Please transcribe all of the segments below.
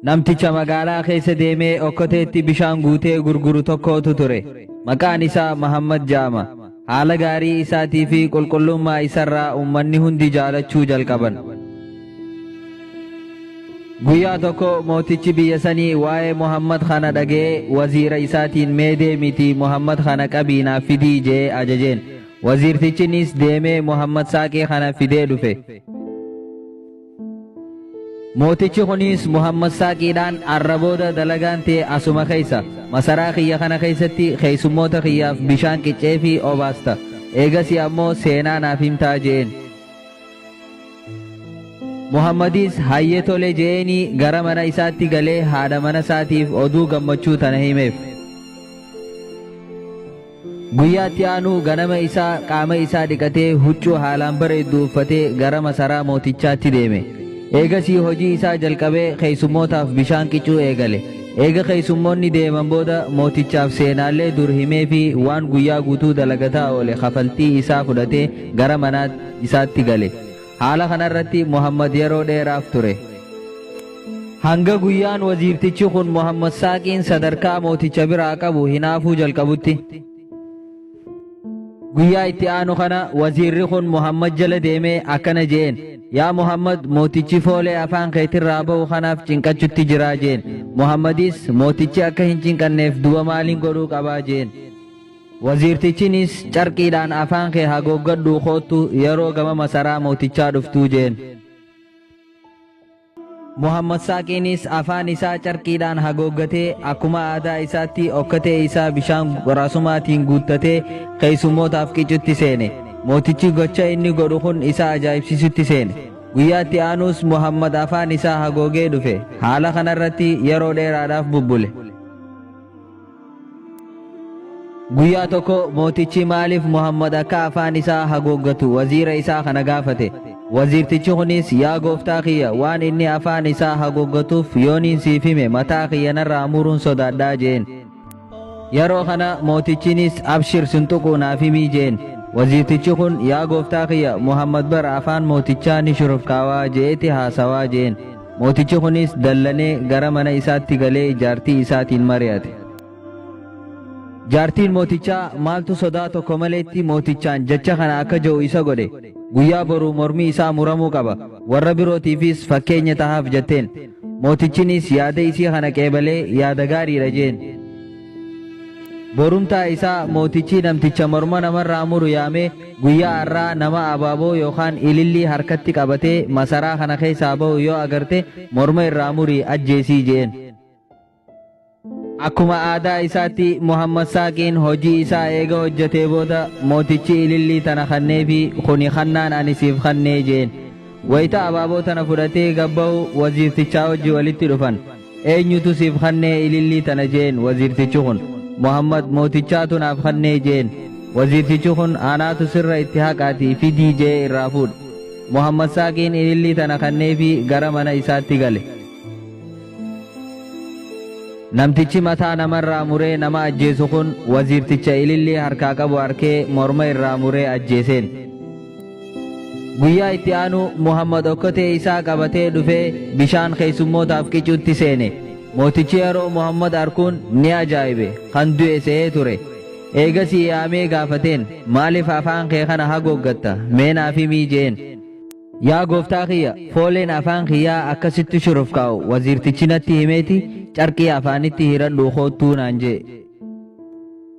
Namticha magaalaa keessa deemee okkoteetti bishaan guutee gurguru tokkootu ture. Maqaan isaa Mahammad ja'ama. Haala gaarii isaatii fi qulqullummaa isarraa ummanni hundi jaalachuu jalqaban. Guyyaa tokko mootichi biyya sanii waa'ee Muhammad kana dhaga'ee waziira isaatiin mee deemitii Muhammad kana qabii naaf fidii jee ajajeen. Waziirtichinis deemee Muhammad saaqee kana fidee dhufe. Mootichi kunis Muhammad Saaqiidhaan Arra booda dalagaan tee asuma keessa, masaraa kiyya kana keessatti keessummoota kiyyaaf bishaan qicceefii obaasta, eegasii ammoo seenaa naaf himtaa je'een. Muhammadis hayyee tole je'eenii gara mana isaatti galee haadha mana isaatiif oduu gammachuu tana himeef. Guyyaa itti aanu ganama isaa qaama isaa dhiqatee huccuu haalaan bareeddu uffatee gara masaraa mootichaatti deeme. Eegasii hojii isaa jalqabee keessummootaaf bishaan qicuu eegale. Eega keessummoonni deeman booda mootichaaf seenaalee dur himeefii waan guyyaa guutuu dalagataa oole kafaltii isaa fudhatee gara manaa isaatti gale. Haala kanarratti Muhammad yeroo dheeraaf ture. Hanga guyyaan waziirtichi kun Muhammad Saaqiin sadarkaa mooticha biraa qabu hinaafuu jalqabutti. Guyyaa itti aanu kana waziirri kun Muhammad jala deemee akkana je'een. Yaa Muhammad mootichi foolee afaan keetirraa ba'u kanaaf cinqachutti jiraa jeen. Muhammadis mootichi akka hin cinqanneef duba maaliin godhuu qabaa jeen. Waziirtichinis carqiidhaan afaan kee hagooggadhuu koottu yeroo gama masaraa mootichaa dhuftuu jeen. Muhammad Saaqiinis afaan isaa carqiidhaan hagooggatee akkuma aadaa isaatti okkatee isaa bishaan qoraasumaatiin guuttatee keessummootaaf qicutti seene. Mootichi gocha inni godhu kun isa ajaa'ibsiisutti seene. Guyyaa itti aanuus Muhammad afaan isaa hagoogee dhufe. Haala kanarratti yeroo dheeraadhaaf bubbule. Guyyaa tokko mootichi maaliif Muhammad akka afaan isaa hagooggatu waziira isaa kana gaafate. Waziirtichi kunis yaa gooftaa kiyya waan inni afaan isaa hagooggatuuf yooniin siif hime mataa kiyya narraa muruun sodaadhaa jeen. Yeroo kana mootichinis abshir sin tuquu naaf himii jeen. Waziirtichi kun yaa gooftaa kiyya Muhammad bara afaan mootichaa ni shurufkaawaa je'eeti haasawaa jeen. Mootichi kunis dallanee gara mana isaatti galee jaartii isaatiin mari'ate. Jaartiin mootichaa maaltu sodaa tokko maleetti mootichaan jecha kana akka je'u isa godhe, guyyaa boruu mormi isaa muramuu qaba, warra birootiifis fakkeenya tahaaf jetteen. Mootichinis yaada isii kana qeebalee yaada gaariidha je'een. Borumtaa isaa mootichii namticha morma namarraa muru yaamee guyyaa arraa nama abaaboo yookaan ilillii harkatti qabatee masaraa kana keessaa bahu yoo agarte morma irraa murii ajjeesii je'een. Akkuma aadaa isaatti Muhammad Saaqiin hojii isaa eega hojjatee booda mootichi ilillii tana kanneefi kuni kannaan ani siif kannee je'een. Wayta abaaboo tana fudhatee gad bahu waziirtichaa wajji walitti dhufan. Eenyutu siif kannee ilillii tana jeen waziirtichi kun. Muhammad mootichaatu naaf kannee jeen. Waziirtichi kun anaatu sirra itti haqaatii fidii je'ee irraa fuudhe. Muhammad Saaqiin ilillii tana kanneefii gara mana isaatti gale. Namtichi mataa namarraa muree nama ajjeesu kun waziirticha ilillii harkaa qabu arkee morma irraa muree ajjeeseen. Guyyaa itti aanu Muhammad okkotee isaa qabatee dhufee bishaan keessummootaaf qicuutti seene. Mootichi yeroo Muhammad arkuun ni ajaa'ibe, kan du'e se'ee ture. Eegasii yaamee gaafateen, Maaliif afaan kee kana hagooggatta? Mee naaf himii je'een. Yaa gooftaa kiyya! Fooleen afaan kiyyaa akka sitti shurufkaa'u waziirtichi natti himeeti carqii afaanitti hiradhuu koottuu naan je'e.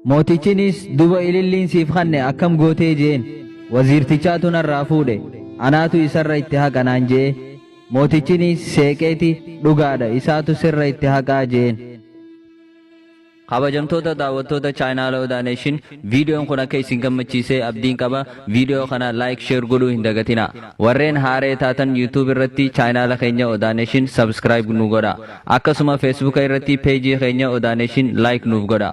Mootichinis, Duba ililliin siif kanne akkam gootee? je'een. Waziirtichaatu narraa fuudhe, anaatu isarra itti haqa naan je'e. Mootichinis seeqeeti, Dhugaadha, isaatu sirra itti haqaa je'een. Kabajamtoota daawwattoota Channel Oda Nation, viidiyoon kun akka isin gammachiise abdiin qaba. Viidiyoo kana like, share godhuu hin dagatinaa. Warreen haaree taatan YouTube irratti channel keenya Oda Nation subscribe nu godhaa. Akkasuma Feesbuuka irratti Peejii keenya Odaa Neeshin Like nuuf godhaa.